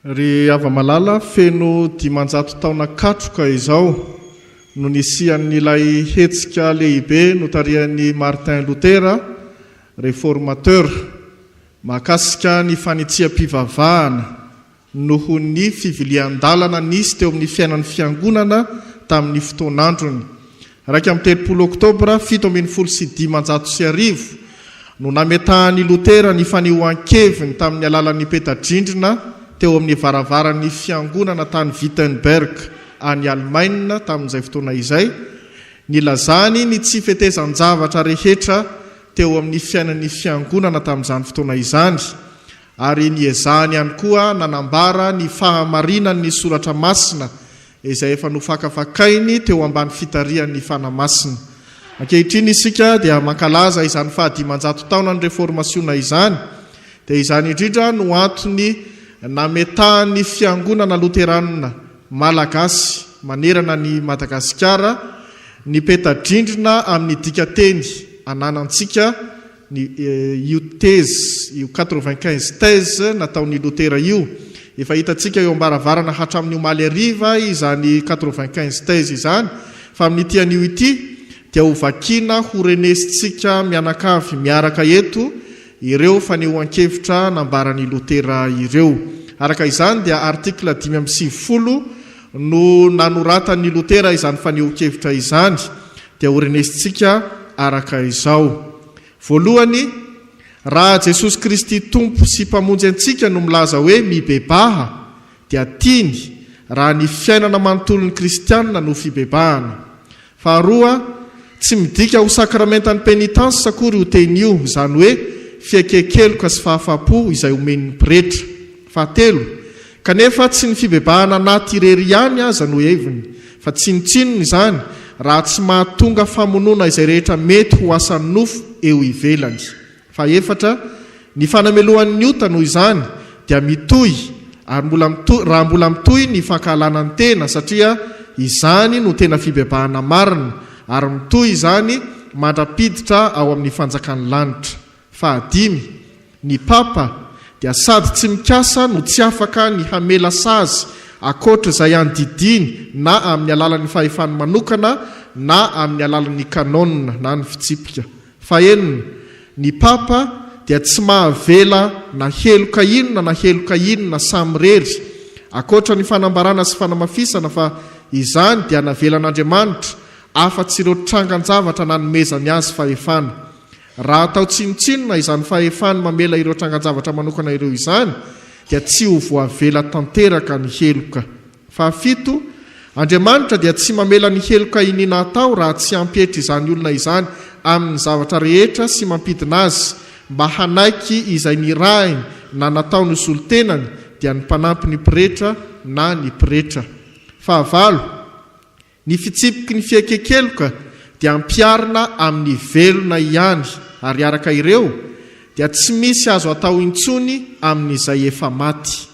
Ry hava-malala, feno dimanjato taona katroka izao no nisian'ilay hetsika lehibe notarihan'i Martin Lotera, Reformateur, mahakasika ny fanitsiam-pivavahana noho ny fivilian-dalana nisy teo amin'ny fiainan'ny Fiangonana tamin'ny fotoan'androny. Iraika amby telopolo Oktobra fito ambin'ny folo sy dimanjato sy arivo no nametahan'i Lotera ny fanehoan-keviny tamin'ny alalan'ny peta-drindrina teo amin'ny varavaran'ny fiangonana tany Wittenberg any Alemaina tamin'izay fotoana izay, nilazany ny tsy fetezan-javatra rehetra teo amin'ny fiainan'ny fiangonana tamin'izany fotoana izany ary niezahany ihany koa nanambara ny fahamarinan'ny Soratra Masina izay efa nofakafakainy teo ambany fitarihan'ny Fanahy Masina. Ankehitriny isika dia mankalaza izany fahadimanjato taonan'ny Reformasiona izany, dia izany indrindra no antony nametahan'ny Fiangonana Loteranina Malagasy manerana an'i Madagasikara ny peta-drindrina amin'ny dika-teny ananantsika, ny io thèse io quatre-vingt-quinze thèse nataon' i Lotera io. Efa hitantsika eo am-baravarana hatramin' ny omaly hariva izany quatre-vingt-quinze thèse izany, fa amin' ity anio ity dia ho vakiana ho renesintsika mianakavy miaraka eto ireo fanehoan-kevitra nambaran' i Lotera ireo. Araka izany dia article dimy amby sivifolo no nanoratan'i Lotera izany fanehoan-kevitra izany dia horinisintsika araka izao. Voalohany, raha Jesosy Kristy Tompo sy Mpamonjy antsika no milaza hoe mibebaha, dia tiany raha ny fiainana manontolon'ny kristiana no fibebahana. Faharoa, tsy midika ho sakramentan'ny penitence akory io teny io, izany hoe fieken-keloka sy fahafapo izay omen'ny pretra. Fahatelo, kanefa tsy ny fibebahana anaty irery ihany aza no heviny, fa tsinontsinony izany raha tsy mahatonga famonoana izay rehetra mety ho asan'ny nofo eo ivelany. Fahefatra, ny fanamelohan'ny ota noho izany dia mitohy ary mbola mitohy raha mbola mitohy ny fankahalana ny tena satria izany no tena fibebahana marina ary mitohy izany mandra-piditra ao amin'ny fanjakan'ny lanitra. Fahadimy, ny Papa dia sady tsy mikasa no tsy afaka ny hamela sazy ankoatra izay andidiany na amin'ny alalan'ny fahefany manokana na amin'ny alalan'ny kanôna na ny fitsipika. Fahenina, ny Papa dia tsy mahavela na heloka inona na heloka inona samirery, ankoatra ny fanambarana sy fanamafisana fa izany dia navelan'Andriamanitra afa-tsy ireo trangan-javatra nanomezany azy fahefana. Raha atao tsinontsinona izany fahefany mamela ireo trangan-javatra manokana ireo izany, dia tsy ho voavela tanteraka ny heloka. Fahafito, Andriamanitra dia tsy mamela ny heloka iniana atao raha tsy hampietry izany olona izany amin'ny zavatra rehetra sy mampidina azy mba hanaiky izay nirahiny na nataony ho solontenany, dia ny mpanampy ny pretra na ny pretra. Fahavalo, Ny fitsipiky ny fiekekeloka dia ampiharina amin'ny velona ihany ary araka ireo dia tsy misy azo atao intsony amin'izay efa maty.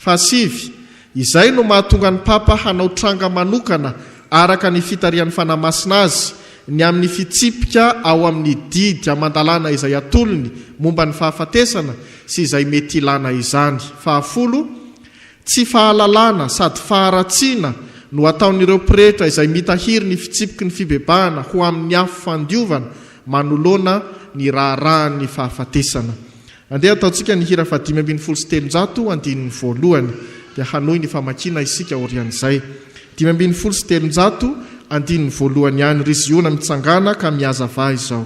Fahasivy, Izay no mahatonga ny Papa hanao tranga manokana araka ny fitarihan'ny Fanahy Masina azy ny amin'ny fitsipika ao amin'ny didy aman-dalàna izay atolony momba ny fahafatesana sy izay mety ilàna izany. Fahafolo, Tsy fahalalana sady faharatsiana no ataon'ireo pretra izay mitahiry ny fitsipiky ny fibebahana ho amin'ny afo fandiovana manoloana ny raharahan'ny fahafatesana. Andeha ataontsika ny hira fahadimy ambin'ny folo sy telonjato, andininy voalohany, dia hanohy ny famakiana isika aorian'izay. Dimy ambin'ny folo sy telonjato, andininy voalohany ihany, Ry Ziona, mitsangàna ka mihazavà izao.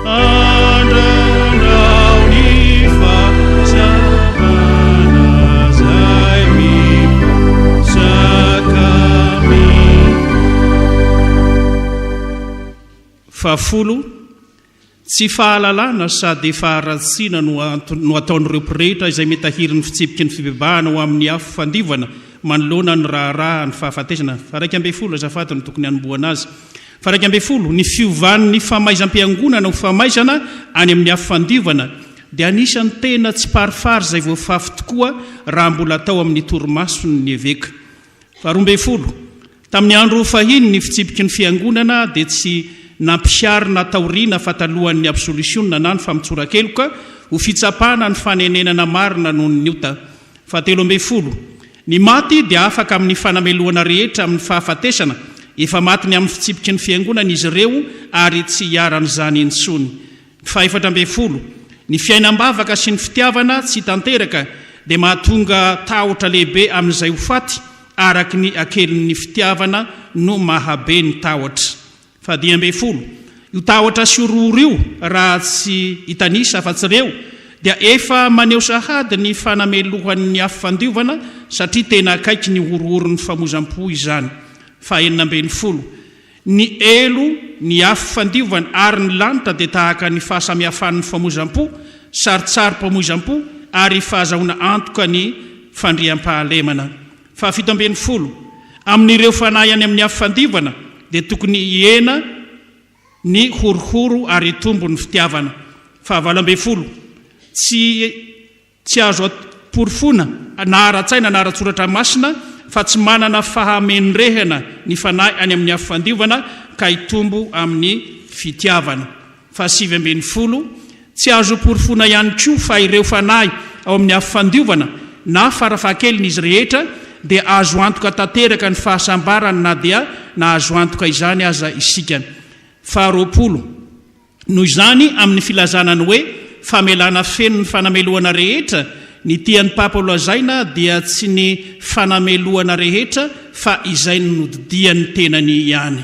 Fahafolo, Tsy fahalalana sady efa haratsiana no no ataon'ireo pretra izay mitahiry ny fitsipiky ny fibebahana ho amin'ny afo fandiovana manoloana ny raharaha ny fahafatesana. Faha iraika ambin'ny folo, Azafady no tokony hanombohana azy. Faraika ambin'ny folo, Ny fiovan'ny famaizam-piangonana ho famaizana any amin'ny Afo Fandiovana dia anisan'ny tena tsiparifary izay voafafy tokoa raha mbola tao amin'ny torimason'ny eveka. Faharoa ambin'ny folo, Tamin'ny andro fahiny ny fitsipiky ny fiangonana dia tsy nampiharina taoriana fa talohan'ny absolisiona na ny famotsoran-keloka ho fitsapana ny fanenenana marina noho ny ota. Fahatelo ambin'ny folo, Ny maty dia afaka amin'ny fanamelohana rehetra amin'ny fahafatesana, efa maty ny amin'ny fitsipiky ny Fiangonana izy ireo ary tsy hiharan'izany intsony. Fahefatra ambin'ny folo, Ny fiainam-bavaka sy ny fitiavana tsy tanteraka dia mahatonga tahotra lehibe amin'izay ho faty, araky ny hakelin'ny fitiavana no mahabe ny tahotra. Fahadimy ambin'ny folo, Io tahotra sy io roro io, raha tsy hitanisa afa-tsy ireo, dia efa maneho sahady ny fanamelohan'ny afo fandiovana satria tena akaiky ny horohoron'ny famozam-po izany. Fahenina ambin'ny folo, Ny elo, ny afo fandiovana ary ny lanitra dia tahaka ny fahasamihafan'ny famozam-po, sarintsarim-pamoizam-po ary fahazahoana antoka ny fandriampahalemana. Fahafito ambin'ny folo, Amin'ireo fanahy any amin'ny afo fandivana dia tokony hihena ny horohoro ary hitombo ny fitiavana. Fahavalo ambin'ny folo, Tsy tsy azo amporofoina na ara-tsaina na ara-tsoratra masina fa tsy manana fahamendrehana ny fanahy any amin'ny afo fandivana ka hitombo amin'ny fitiavana. Fahasivy ambin'ny folo, Tsy azo porofoina ihany koa fa ireo fanahy ao amin'ny afo fandiovana na farafahakelin'izy rehetra dia azo antoka tanteraka ny fahasambarany na dia nahazo antoka izany aza isika. Faharoapolo, Noho izany, amin'ny filazana ny hoe famelana feno ny fanamelohana rehetra, ny tian'ny Papa holazaina dia tsy ny fanamelohana rehetra fa izay nodidian'ny tenany ihany.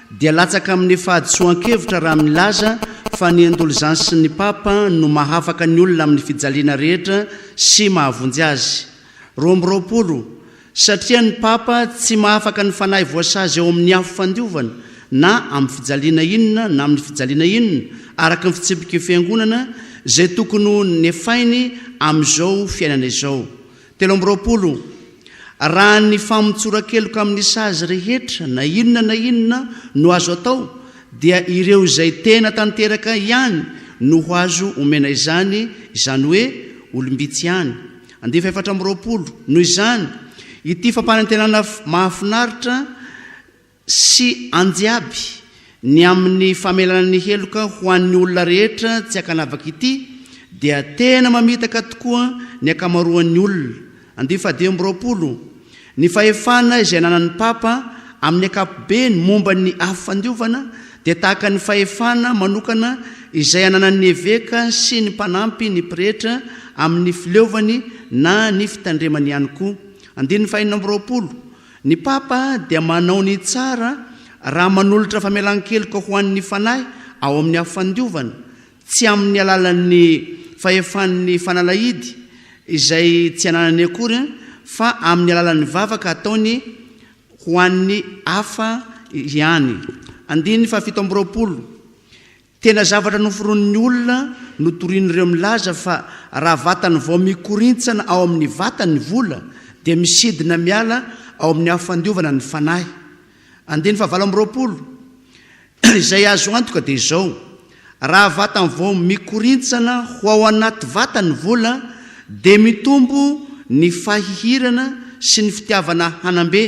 dia latsaka amin'ny fahadisoan-kevitra raha milaza fa ny indulgence n'ny Papa no mahafaka ny olona amin'ny fijaliana rehetra sy mahavonjy azy. Roa amby roapolo, Satria ny Papa tsy mahafaka ny fanahy voasazy ao amin'ny afo fandiovana na amin'ny fijaliana inona na amin'ny fijaliana inona araka ny fitsipiky ny Fiangonana izay tokony ho nefainy amin'izao fiainana izao Telo amby roapolo, Raha ny famotsoran-keloka amin'ny sazy rehetra na inona na inona no azo atao dia ireo izay tena tanteraka ihany no ho azo omena izany, izany hoe olom-bitsy ihany. Andivo efatra amby roapolo, Noho izany, ity fampanantenana mahafinaritra, sy anjiaby ny amin'ny famelana ny heloka ho an'ny olona rehetra tsy ankanavaka ity dia tena mamitaka tokoa ny ankamaroan'ny olona. Andiy faha dimy amby roapolo, Ny fahefana izay ananan'ny Papa amin'ny ankapobeny momba ny afo fandiovana dia tahaka ny fahefana manokana izay ananan'ny eveka sy ny mpanampy ny pretra amin'ny fileovany na ny fitandremany ihany koa. Andininy faha enina amby roapolo, Ny Papa dia manao ny tsara raha manolotra famelan-keloka ho an'ny fanahy ao amin'ny afo fandiovana, tsy amin'ny alalan'ny fahefan'ny fanalahidy, izay tsy ananany akory, fa amin'ny alalan'ny vavaka ataony ho an'ny hafa ihany. Andininy fahafito amby roapolo, Tena zavatra noforonin'ny olona no torian'ireo milaza fa raha vatany vao mikorintsana ao amin'ny vatany ny vola dia misidina miala ao amin'ny afo fandiovana ny fanahy. Andininy fahavalo amby roapolo, Izay azo antoka dia izao, raha vatany vao mikorintsana ho ao anaty vatany ny vola dia mitombo ny fahihirana sy ny fitiavana hanam-be,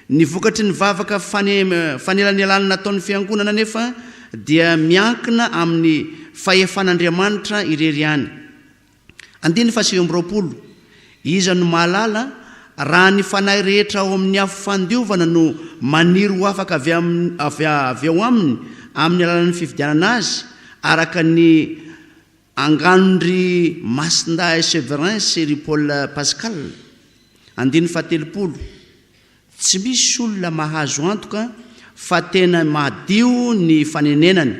Ny vokatry ny vavaka fanelanelana nataon'ny Fiangonana anefa dia miankina amin'ny fahefan'Andriamanitra irery ihany. Andininy fahasivy amby roapolo, Iza no mahalala, raha ny fanahy rehetra ao amin'ny afo fandiovana no maniry ho afaka avy ao aminy amin'ny alalan'ny fifidianana azy araka ny Angano ry Masindahy Severin sy ry Paul Pascal, andininy fahatelopolo, tsy misy olona mahazo antoka fa tena madio ny fanenenany,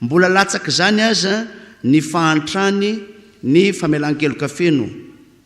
mbola latsak'izany aza ny fahantrany ny famelan-keloka feno.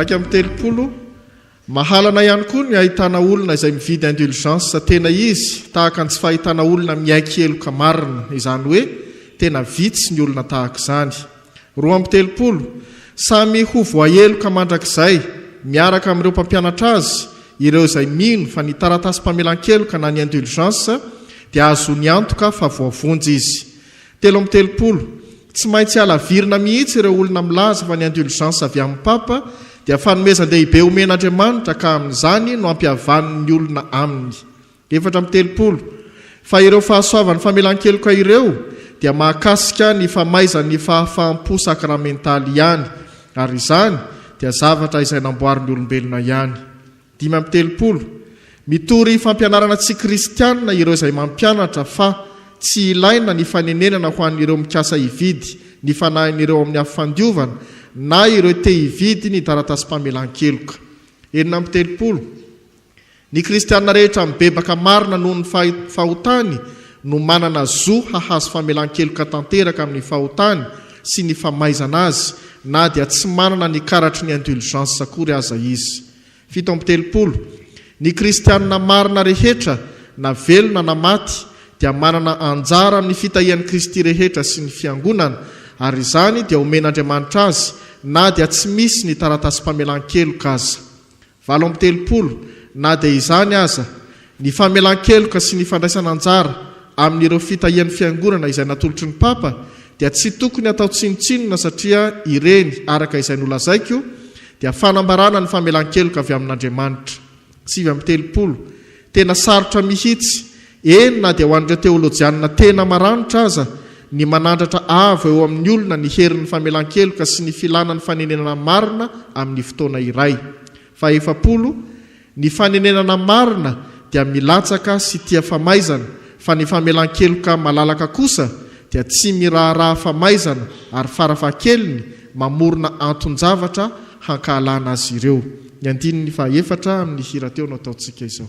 Raika amin'ny telopolo, mahalana ihany koa ny ahitana olona izay mividy indulgence tena izy, tahaka ny tsy fahitana olona miaiky heloka marina, izany hoe tena vitsy ny olona tahaka izany. Roa amby telopolo, Samy ho voaheloka mandrakizay, miaraka amin'ireo mpampianatra azy, ireo izay mino fa ny taratasim-pamelan-keloka na ny indulgence dia ahazoany antoka fa voavonjy izy. Telo amby telopolo, Tsy maintsy halavirina mihitsy ireo olona milaza fa ny indulgence avy amin'ny Papa dia fanomezan-dehibe omen'Andriamanitra ka amin'izany no ampihavaniny ny olona aminy. Efatra amby telopolo, Fa ireo fahasoavan'ny famelan-keloka ireo dia mahakasika ny famaizan'ny fahafaham-po sakramentaly ihany, ary izany dia zavatra izay namboarin'ny olombelona ihany. Dimy amby telopolo, Mitory fampianarana tsy kristiana ireo izay mampianatra fa tsy ilaina ny fanenenana ho an'ireo mikasa hividy ny fanahin'ireo amin'ny afo fandiovana na ireo te-hividy ny taratasim-pamelan-keloka. Enina amby telopolo, Ny kristiana rehetra mibebaka marina noho ny fahotany no manana zo hahazo famelan-keloka tanteraka amin'ny fahotany sy ny famaizana azy na dia tsy manana ny karatry ny indulgence akory aza izy. Fito amby telopolo. Ny kristiana marina rehetra, na velona na maty, dia manana anjara amin'ny fitahian'i Kristy rehetra sy ny Fiangonana, ary izany dia omen'Andriamanitra azy na dia tsy misy ny taratasim-pamelan-keloka aza. Valo amby telopolo, Na dia izany aza, ny famelan-keloka sy ny fandraisana anjara amin'ireo fitahian'ny Fiangonana izay natolotry ny Papa dia tsy tokony atao tsinontsinona satria ireny, araka izay nolazaiko, dia fanambarana ny famelan-keloka avy amin'Andriamanitra. Sivy amby telopolo, Tena sarotra mihitsy Eny, na dia ho an'ireo teolojianina tena maranitra aza, ny manandratra avo eo amin'ny olona ny herin'ny famelan-keloka sy ny filana ny fanenenana marina amin'ny fotoana iray. Fahefapolo, Ny fanenenana marina dia milatsaka sy tia famaizana, fa ny famelan-keloka malalaka kosa dia tsy miraharaha famaizana ary farafahakeliny mamorona anton-javatra hankahalana azy ireo. Ny andininy fahaefatra amin'ny hira teo no ataontsika izao.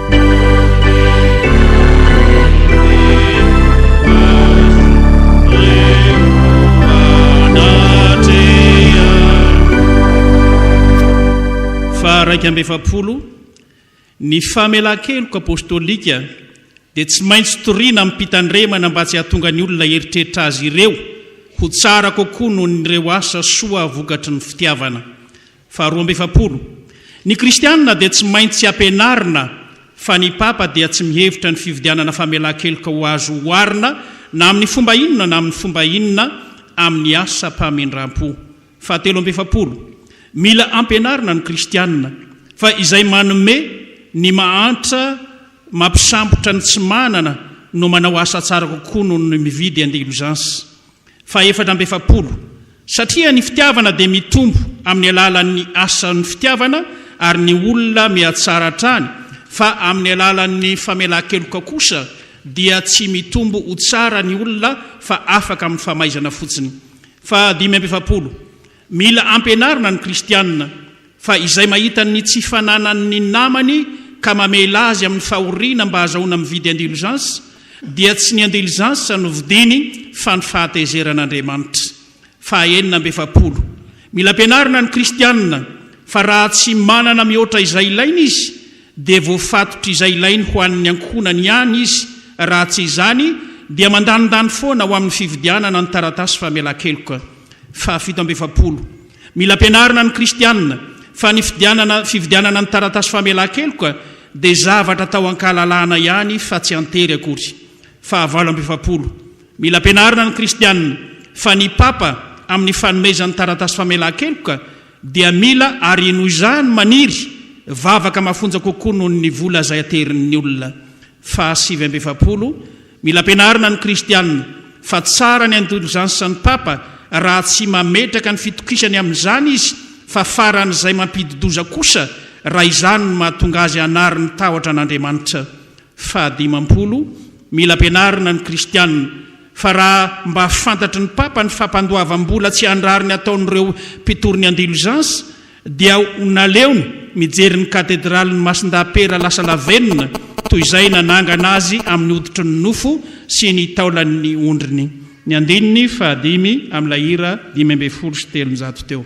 Faha-iraika amby efapolo, Ny famelan-keloka apostolika dia tsy maintsy toriana amim-pitandremana mba tsy hahatonga ny olona hieritreritra azy ireo ho tsara kokoa noho ireo asa soa vokatry ny fitiavana. Faharoa amby efapolo, Ny kristiana dia tsy maintsy ampianarina fa ny papa dia tsy mihevitra ny fividianana famelan-keloka ho azo oharina na amin'ny fomba inona na amin'ny fomba inona amin'ny asam-pamindram-po. Fahatelo amby efapolo, Mila ampianarina ny kristiana fa izay manome ny mahantra mampisambotra ny tsy manana no manao asa tsara kokoa noho ny mividy indulgence. fahefatra amby efapolo, Satria ny fitiavana dia mitombo amin'ny alalan'ny asan'ny fitiavana, ary ny olona mihatsara hatrany, fa amin'ny alalan'ny famelan-keloka kosa dia tsy mitombo ho tsara ny olona fa afaka amin'ny famaizana fotsiny. Fahadimy amby efapolo, Mila ampianarina ny kristiana fa izay mahita ny tsy fananan'ny namany ka mamela azy amin'ny fahoriana mba hazahoana mividy indulgence dia tsy ny indulgence no vidiny fa ny fahatezeran'Andriamanitra. Faha enina amby efapolo. Mila ampianarina ny kristiana fa raha tsy manana mihoatra izay ilaina izy dia voafatotr'izay ilainy ho an'ny ankohonany ihany izy, raha tsy izany dia mandanindany foana ho amin'ny fividianana ny taratasy famelan-keloka. Fahafito amby efapolo. Mila ampianarina ny kristiana fa ny fidianana, fividianana ny taratasy famelan-keloka dia zavatra atao an-kahalalahana ihany fa tsy an-tery akory. Fahavalo amby efapolo. Mila ampianarina ny kristiana fa ny papa amin'ny fanomezany taratasy famelan-keloka dia mila ary noho izany maniry vavaka mafonja kokoa noho ny vola izay aterin'ny olona. Faha sivy amby efapolo, Mila ampianarina ny kristiana fa tsara ny indulgence ny papa raha tsy mametraka ny fitokisany amin'izany izy fa faran'izay mampidi-doza kosa raha izany no mahatonga azy hanary ny tahotra an'Andriamanitra. Faha dimampolo, Mila ampianarina ny kristiana. Fa raha mba fantatry ny Papa ny fampandoavam-bola tsy an-drariny ataon'ireo mpitory ny Andilozans, dia ho naleony mijery ny Katedralin'i Masindahapera lasa lavenona toy izay nanangana azy amin'ny hoditry ny nofo sy ny taolan'ny ondriny. Ny andininy fahadimy amin'ilay hira dimy ambin'ny folo sy telonjato teo.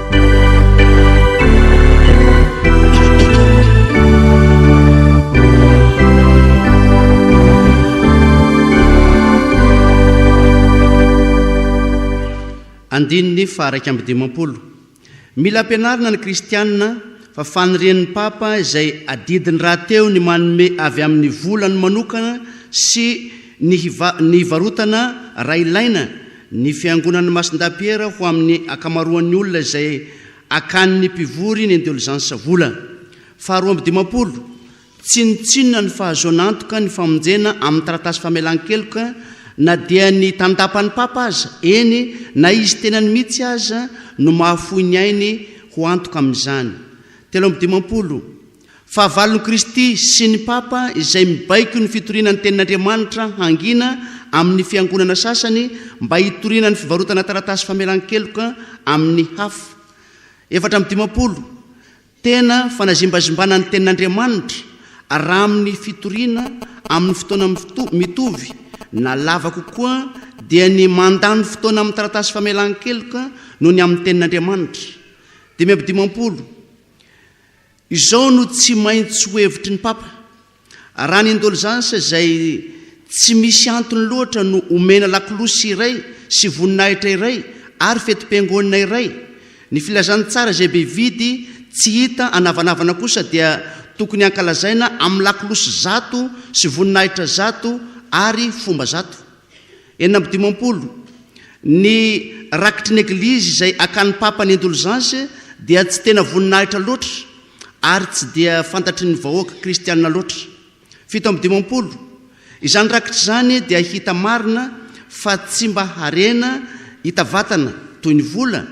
Andininy faha iraika amby dimampolo. Mila ampianarina ny kristiana fa fanirian'ny Papa izay adidiny rahateo ny manome avy amin'ny volany manokana sy ny hiva, ny hivarotana raha ilaina Ny Fiangonan'i Masindahy-Piera ho amin'ny ankamaroan'ny olona izay akan'ny mpivory ny indulgence vola. Faharoa amby dimampolo, Tsinontsinona ny fahazoana antoka ny famonjena amin'ny taratasy famelan-keloka na dia ny tandapan'ny Papa aza, eny na izy tenany mihitsy aza no mahafoy ny ainy ho antoka amin'izany. Telo amby dimampolo. Fahavalon'i Kristy sy ny Papa izay mibaiko ny fitoriana ny Tenin'Andriamanitra hangina amin'ny Fiangonana sasany mba hitoriana ny fivarotana taratasy famelan-keloka amin'ny hafa. Efatra amby dimampolo, Tena fanazimbazimbana ny Tenin'Andriamanitra raha amin'ny fitoriana amin'ny fotoana mitovy na lava kokoa dia ny mandany fotoana amin'ny taratasy famelan-keloka noho ny amin'ny Tenin'Andriamanitra. Dimy amby dimampolo, Izao no tsy maintsy ho hevitry ny Papa, Raha ny indolzansa izay tsy misy antony loatra no omena lakolosy iray sy voninahitra iray ary fetim-piangonana iray, ny filazantsara izay be vidy tsy hita anavanavana kosa dia tokony hankalazaina amin'ny lakolosy zato sy voninahitra zato ary fomba zato. Enina amby dimampolo, Ny rakitry ny Eglizy izay akan'ny Papa ny indulgence dia tsy tena voninahitra loatra ary tsy dia fantatry ny vahoaka kristiana loatra. Fito amby dimampolo, Izany rakitra izany dia hita marina fa tsy mba harena hita vatana toy ny vola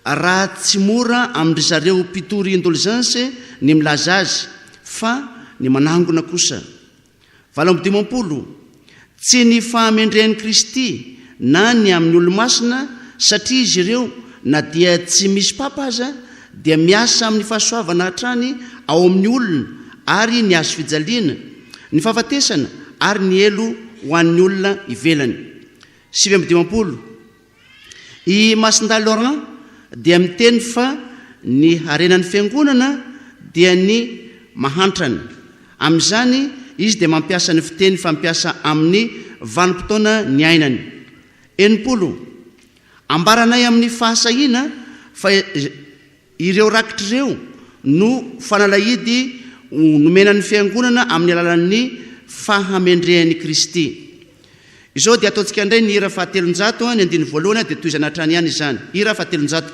raha tsy mora amin-dry zareo mpitory indulgence ny milaza azy fa ny manangona kosa Valo amby dimampolo, Tsy ny fahamendrehan'i Kristy na ny amin'ny olo-masina, satria izy ireo, na dia tsy misy papa aza, dia miasa amin'ny fahasoavana hatrany ao amin'ny olona ary ny hazofijaliana, ny fahafatesana ary ny helo ho an'ny olona ivelany. Sivy amby dimampolo. I Masindahy Laurent dia miteny fa ny harenan'ny Fiangonana dia ny mahantrany. Amin'izany, izy dia mampiasa ny fiteny fampiasa amin'ny vanim-potoana niainany. Enimpolo. Ambaranay amin'ny fahasahiana fa Ireo rakitra ireo no fanalahidy nomena ny Fiangonana amin'ny alalan'ny fahamendrehan'i Kristy. Izao dia ataontsika indray ny hira fahatelonjato, ny andininy voalohany dia tohizana hatrany ihany izany. Hira fahatelonjato.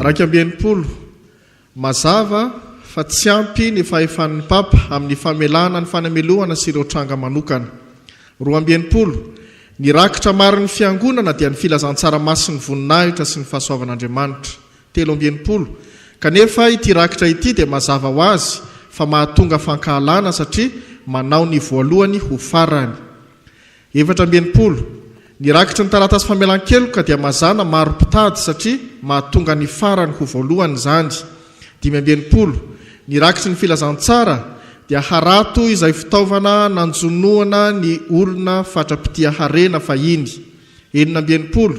Iraika amby enimpolo, Mazava fa tsy ampy ny fahefan'ny Papa amin'ny famelana ny fanamelohana sy ireo tranga manokana. Roa amby enimpolo, Ny rakitra marin'ny Fiangonana dia ny filazantsara masin'ny voninahitra sy ny fahasoavan'Andriamanitra. Telo amby enimpolo, Kanefa ity rakitra ity dia mazava ho azy fa mahatonga fankahalana satria manao ny voalohany ho farany. Efatra amby enimpolo. Ny rakitry ny taratasy famelan-keloka dia mazàna maro mpitady satria mahatonga ny farany ho voalohany izany. Dimy amby enimpolo. Ny rakitry ny filazantsara dia harato izay fitaovana nanjonoana ny olona fatra-pitia harena fahiny. Enina amby enimpolo.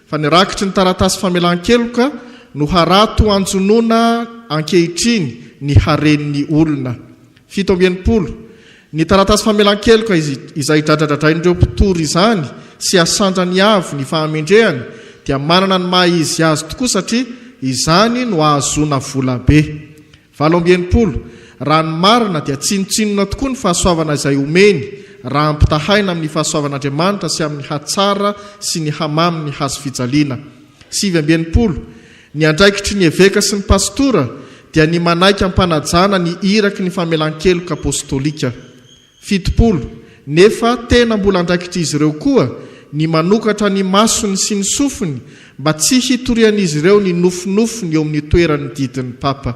Fa ny rakitry ny taratasy famelan-keloka no harato hanjonoana ankehitriny ny haren'ny olona. Fito amby enimpolo, Ny taratasy famelan-keloka izay idradradradrain'ireo mpitory izany sy asandrany avo ny fahamendrehany dia manana ny maha izy azy tokoa satria izany no ahazoana vola be. Valo amby enimpolo, Raha ny marina dia tsinontsinona tokoa ny fahasoavana izay omeny raha ampitahaina amin'ny fahasoavan'Andriamanitra sy amin'ny hatsara sy ny hamamin'ny hazofijaliana. Sivy amby enimpolo, Ny andraikitry ny eveka sy ny pasitora dia ny manaiky am-panajana ny iraky ny famelan-keloka apostolika. Fitopolo, Nefa tena mbola andraikitr'izy ireo koa ny manokatra ny masony sy ny sofiny mba tsy hitorian'izy ireo ny nofinofiny eo amin'ny toeran'ny didin'ny papa.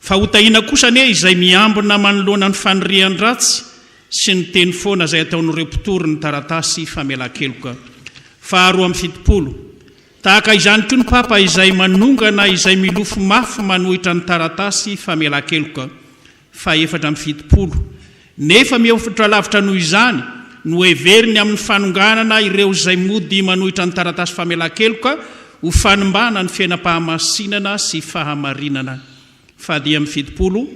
Fa ho tahiana kosa anie izay miambina manoloana ny fanirian-dratsy sy ny teny foana izay ataon'ireo mpitory ny taratasy famelan-keloka faharoa amby fitopolo. Tahaka izany koa ny Papa izay manongana izay milofo mafy manohitra ny taratasy famelan-keloka fahefatra amby fitopolo, Nefa mihofotra lavitra noho izany no heveriny amin'ny fanonganana ireo izay mody manohitra ny taratasy famelan-keloka ho fanimbàna ny fiainam-pahamasinana sy fahamarinana. Fadih amin'ny fitopolo,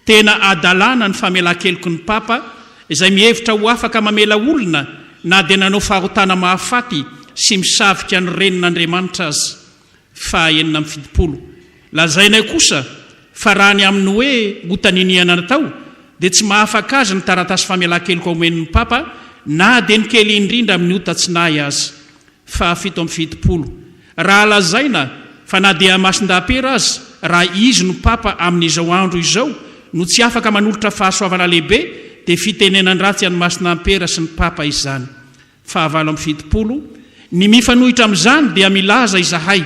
Tena hadalàna ny famelan-keloky ny Papa izay mihevitra ho afaka mamela olona na dia nanao fahotana mahafaty sy misavika ny Renin'Andriamanitra aza. Faha enina amby fitopolo. Lazainay kosa fa raha ny amin'ny hoe ota niniana natao dia tsy mahafaka azy ny taratasy famelan-keloka omen'ny Papa na dia ny kely indrindra amin'ny ota tsy nahy aza. Faha fito amby fitopolo. Raha lazaina fa na dia Masindahy-Pera aza raha izy no Papa amin'izao andro izao no tsy afaka manolotra fahasoavana lehibe dia fitenenan-dratsy an'i Masina-Ampera sy ny Papa izany. Fahavalo amby fitopolo, Ny mifanohitra amin'izany dia milaza izahay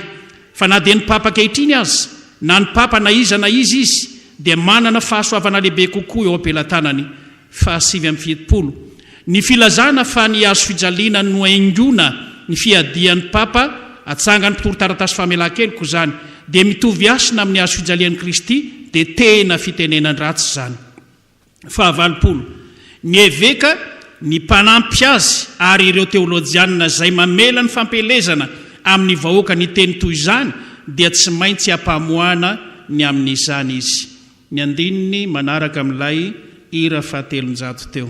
fa na dia ny Papa ankehitriny aza, na ny Papa na iza na iza izy, dia manana fahasoavana lehibe kokoa eo am-pelatanany. Fahasivy amby fitopolo, Ny filazana fa ny hazofijaliana no haingona ny fiadian'ny Papa, atsangan'ny mpitoritaratasy famelan-keloka izany, dia mitovy hasina amin'ny hazofijalian'i Kristy, dia tena fitenenan-dratsy izany. fahavalopolo, ny eveka, ny mpanampy azy ary ireo teolojianina izay mamela ny fampielezana amin'ny vahoaka ny teny toy izany dia tsy maintsy ampamoahana ny amin'izany izy. Ny andininy manaraka amin'ilay hira fahatelonjato teo.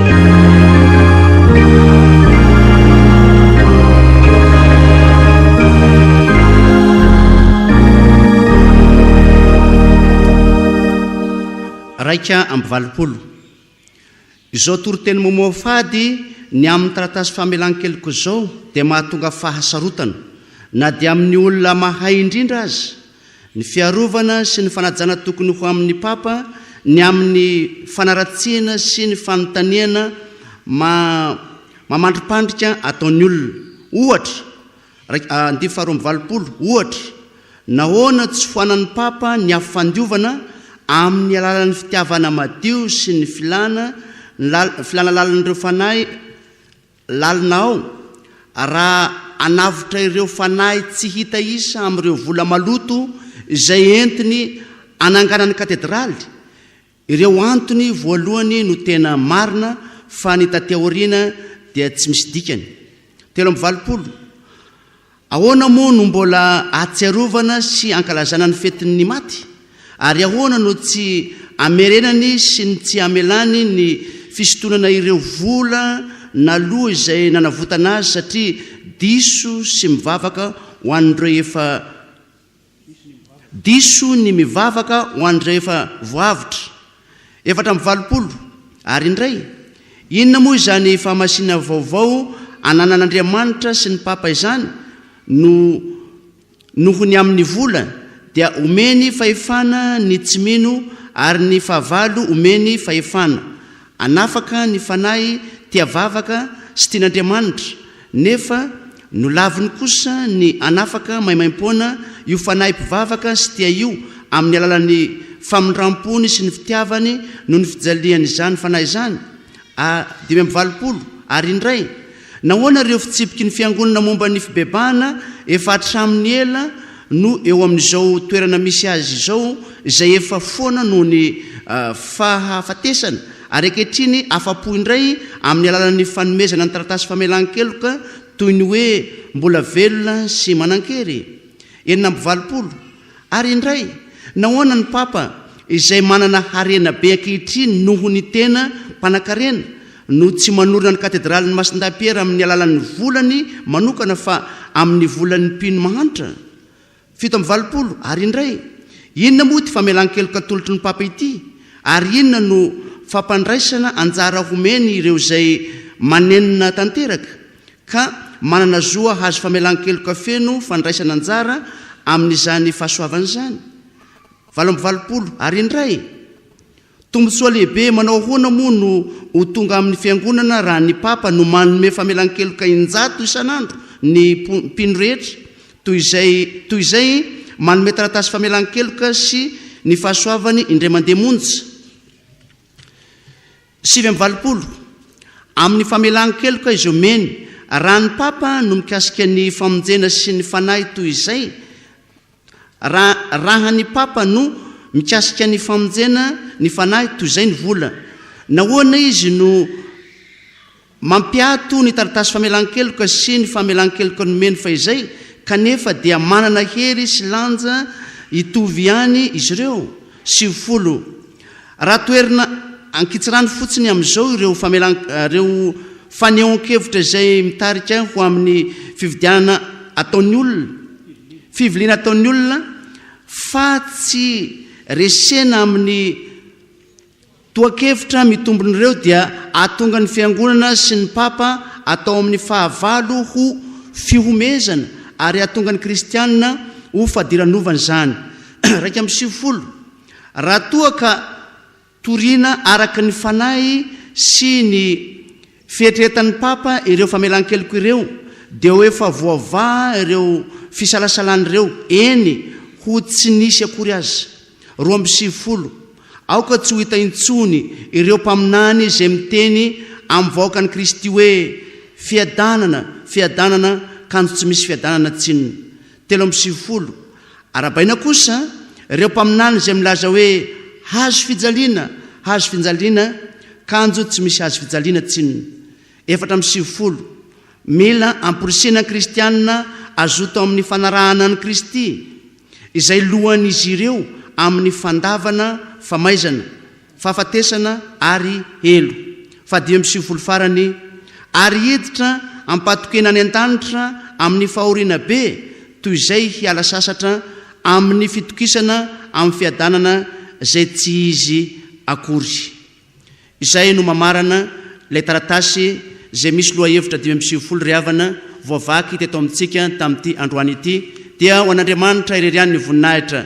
Iraika amby valopolo. Izao toriteny mamoa fady ny amin'ny taratasy famelan-keloka izao dia mahatonga fahasarotana, na dia amin'ny olona mahay indrindra aza, Ny fiarovana sy ny fanajana tokony ho amin'ny Papa ny amin'ny fanaratsiana sy ny fanontaniana mamandripandrika ataon'ny olona. Ohatra, raik, andivo faharoa amby valopolo, ohatra, nahoana tsy foanan'ny Papa ny afo fandiovana amin'ny alalan'ny fitiavana madio sy ny filana ny lal, filana lalin'ireo fanahy, Lalina ao, raha hanavotra ireo fanahy tsy hita isa amin'ireo vola maloto izay entiny hananganany katedraly, ireo antony voalohany no tena marina fa ny taty aoriana dia tsy misy dikany. Telo amby valopolo. Ahoana moa no mbola ahatsiarovana sy ankalazana ny fetin'ny maty? Ary ahoana no tsy amerenany sy ny tsy amelany ny fisintonana ireo vola naloa izay nanavotana azy satria diso sy mivavaka ho an'ireo efa Diso ny mivavaka ho an'ny rehefa voavotra, efatra amby valopolo, ary indray, inona moa izany fahamasinana vaovao ananan'Andriamanitra sy ny Papa izany no noho ny amin'ny vola dia omeny fahefana ny tsy mino ary ny fahavalo omeny fahefana Hanafaka ny fanahy tia vavaka sy tian'Andriamanitra, nefa nolaviny kosa ny hanafaka maimaim-poana io fanahy mpivavaka sy tia io amin'ny alalan'ny famindram-pony sy ny fitiavany noho ny fijalian'izany fanahy izany. A. Dimy amby valopolo, Ary indray, Nahoana ireo fitsipiky ny Fiangonana momba ny fibebahana efa hatramin'ny ela no eo amin'izao toerana misy azy izao izay efa foana noho ny fahafatesana ary ankehitriny afa-po indray amin'ny alalan'ny fanomezana ny taratasy famelan-keloka toy ny hoe mbola velona sy manan-kery? Enina amby valopolo. Ary indray, nahoana ny Papa, izay manana harena be ankehitriny noho ny tena mpanankarena, no tsy manorina ny Katedralin'i Masindahy Piera amin'ny alalan'ny volany manokana fa amin'ny volan'ny mpino mahantra? Fito amby valopolo. Ary indray, inona moa ity famelan-keloka atolotry ny Papa ity, ary inona no fampandraisana anjara homeny ireo izay manenina tanteraka? ka manana zo hahazo famelan-keloka feno fandraisana anjara amin'izany fahasoavana izany? Valo amby valopolo Ary indray, tombontsoa lehibe manao ahoana moa no ho tonga amin'ny Fiangonana raha ny Papa no manome famelan-keloka in-jato isan'andro ny mpino rehetra, toy izay toy izay manome taratasy famelan-keloka sy ny fahasoavany indray mandeha monja? Sivy amby valopolo, Amin'ny famelan-keloka izay omeny, raha ny Papa no mikasika ny famonjena sy ny Fanahy toy izay, Raha, raha ny Papa no mikasika ny famonjena ny Fanahy toy izay ny vola, nahoana izy no. Mampiato ny taratasy famelan-keloka sy ny famelan-keloka nomeny fahizay kanefa dia manana hery sy lanja hitovy ihany izy ireo, sivifolo. Raha toherina ankitsirano fotsiny amin'izao ireo ireo fanehoan-kevitra izay mitarika ho amin'ny fividianana ataon'ny olona, fiviliana ataon'ny olona, fa tsy resena amin'ny. Tohan-kevitra mitombin'ireo dia ahatonga ny Fiangonana sy ny Papa atao amin'ny fahavalo ho fihomezana ary ahatonga ny kristiana ho fadiranovana izany. Iraika amby sivifolo. Raha toa ka toriana araka ny fanahy sy ny. Fieritreretan'ny Papa ireo famelan-keloka ireo dia ho efa voavaha ireo fisalasalana ireo, eny, ho tsy nisy akory aza. Roa amby sivifolo, Aoka tsy ho hita intsony ireo mpaminany izay miteny amin'ny vahoakan'i Kristy hoe, Fiadanana, fiadanana, kanjo tsy misy fiadanana tsinona. telo amby sivifolo. Arahabaina kosa ireo mpaminany izay milaza hoe hazo fijaliana, hazo finjaliana, kanjo tsy misy hazo fijaliana, tsin. Efatra amby sivifolo. Mila amporisihina ny kristiana hazoto amin'ny fanarahana an'i Kristy, izay lohan'izy ireo amin'ny fandavana famaizana, fahafatesana ary helo faha dimy amby sivifolo farany, ary hiditra am-patokiana any an-danitra amin'ny fahoriana be toy izay hiala sasatra amin'ny fitokisana amin'ny fiadanana izay tsy izy akory. Izay no mamarana ilay taratasy izay misy lohahevitra dimy amby sivifolo ry havana voavaky teto amintsika tamin'ity androany ity, Dia ho an'Andriamanitra irery ihany ny voninahitra,